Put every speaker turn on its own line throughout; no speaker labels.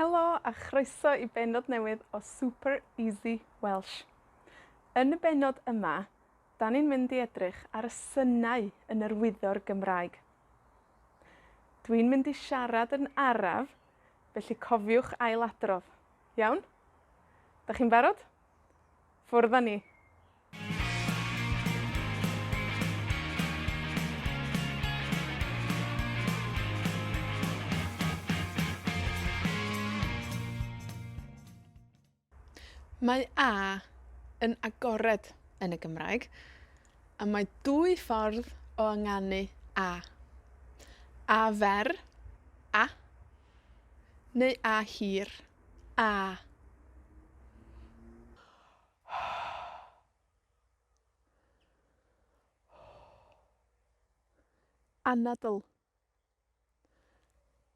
Helo, a chroeso i bennod newydd o Super Easy Welsh. Yn y bennod yma, 'dan ni'n mynd i edrych ar y synau yn yr wyddor Gymraeg. Dwi'n mynd i siarad yn araf, felly cofiwch ailadrodd. Iawn? 'Dach chi'n barod? Ffwrdd â ni. Mae a yn agored yn y Gymraeg, a mae dwy ffordd o ynganu a. A fer, a, neu a hir. A. Anadl.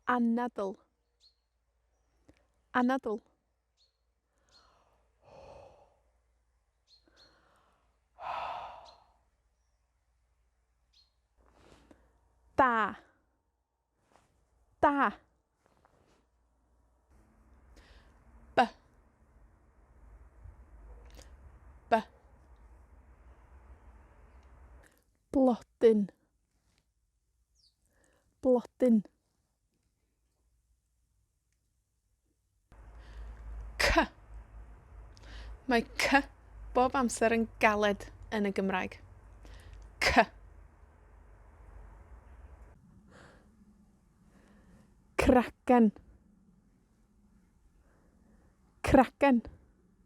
Anadl. Anadl. Da. Da. By. By. Blodyn. Blodyn. Cy. Mae cy bob amser yn galed yn y Gymraeg. Cy. Cragen. Cragen.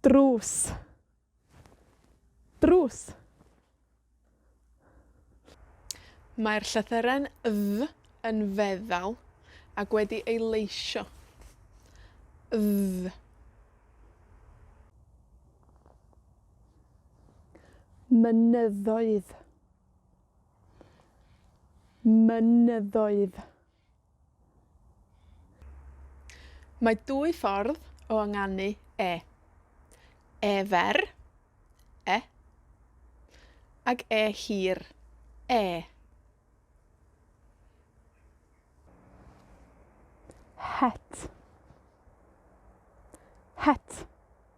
drws drws Mae'r llythyren ddy yn feddal ac wedi ei leisio. Ddy. Mynyddoedd. Mynyddoedd. Mae dwy ffordd o ynganu e. E fer, e, ag e hir, ê. Het. Het.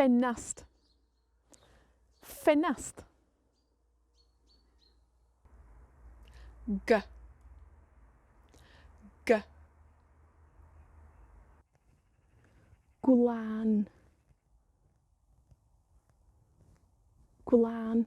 Ffenast. Ffenast. Gy. Gy. Gwlân. Gwlân.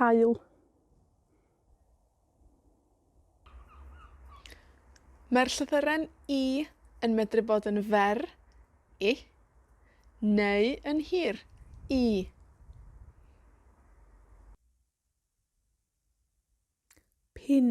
Haul. Mae'r llythyren i yn medru bod yn fer, i, neu yn hir, ii. Pin.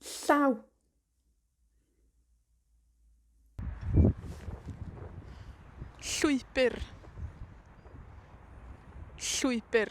Llaw. Llwybr. Llwybr.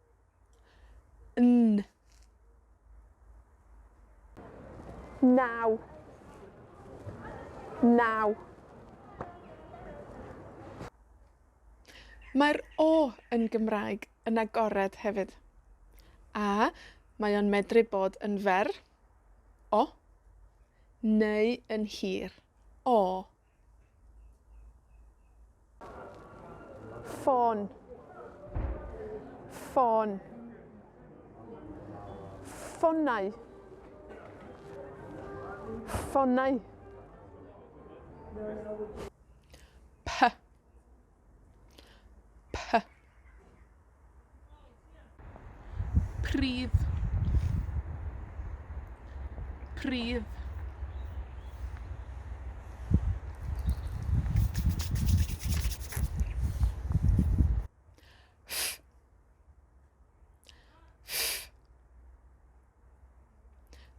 N. Naw. Naw. Mae'r o yn Gymraeg yn agored hefyd. A, mae o'n medru bod yn fer, o, neu yn hir, aw. Ffôn. Ffôn. Ffonau. Ffonau. Py. Py. Pridd. Pridd.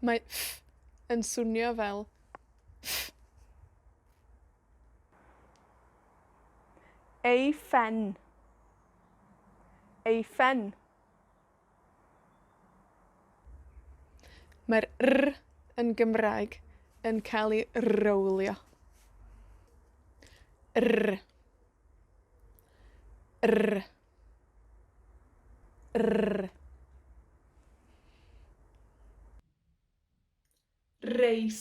Mae yn swnio fel Ei phen. Ei phen. Mae'r r yn Gymraeg yn cael ei rowlio. R, r, r. Reis.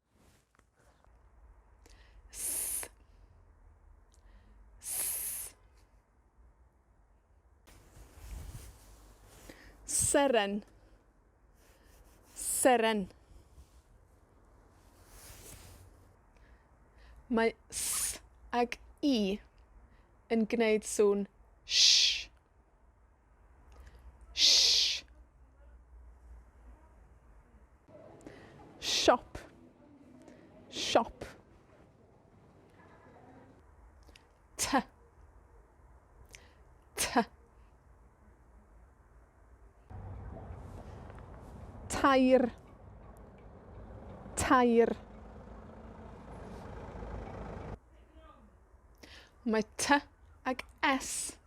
Th. Th. Seren. Seren. Mae th ag i yn gneud sŵn sh. Sh! Siop. Siop. Ty. Ty. Tair. Tair. Mae ty ag es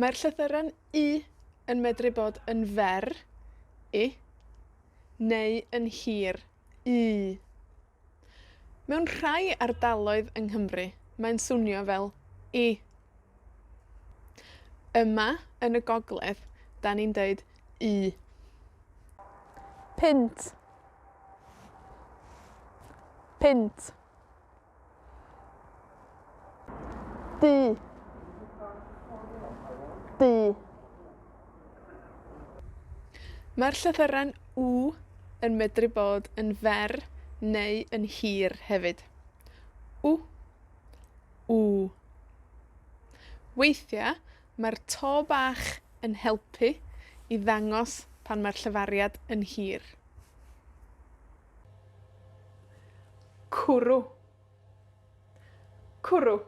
Mae'r llythyren Y yn medru bod yn fer, i, neu yn hir, ŷ. Mewn rhai ardaloedd yng Nghymru, mae'n swnio fel i. Yma yn y gogledd, 'dan ni'n deud y. Punt. Punt. Bu. Bu. Mae'r llythyren w yn medru bod yn fer neu yn hir hefyd. w, w. Weithia', mae'r to bach yn helpu i ddangos pan mae'r llefariad yn hir. Cwrw. Cwrw.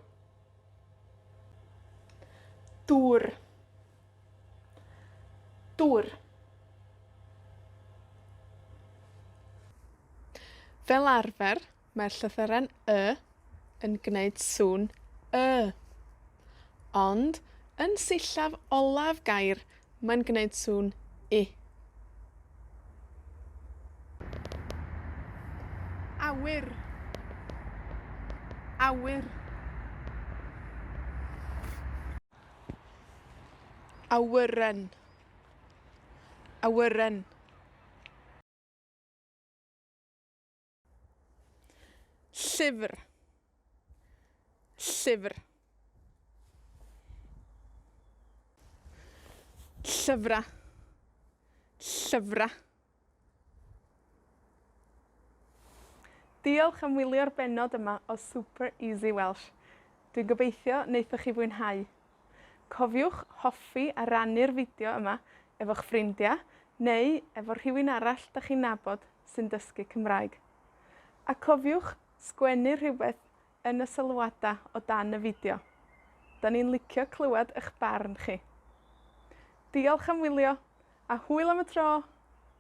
Dŵr. Dŵr. Fel arfer, mae'r llythyren y yn gneud sŵn y. Ond, yn sillaf olaf gair, mae'n gneud sŵn i. Awyr. Awyr. Awyren. Awyren. Llyfr. Llyfr. Llyfra'. Llyfra'. Diolch am wylio'r bennod yma o Super Easy Welsh. Dwi'n gobeithio naethoch chi fwynhau. Cofiwch hoffi a rannu'r fideo yma efo'ch ffrindia, neu efo rhywun arall 'dach chi'n nabod sy'n dysgu Cymraeg. A cofiwch sgwennu rhywbeth yn y sylwada o dan y fideo. 'Dan ni'n licio clywad 'ych barn chi. Diolch am wylio, a hwyl am y tro!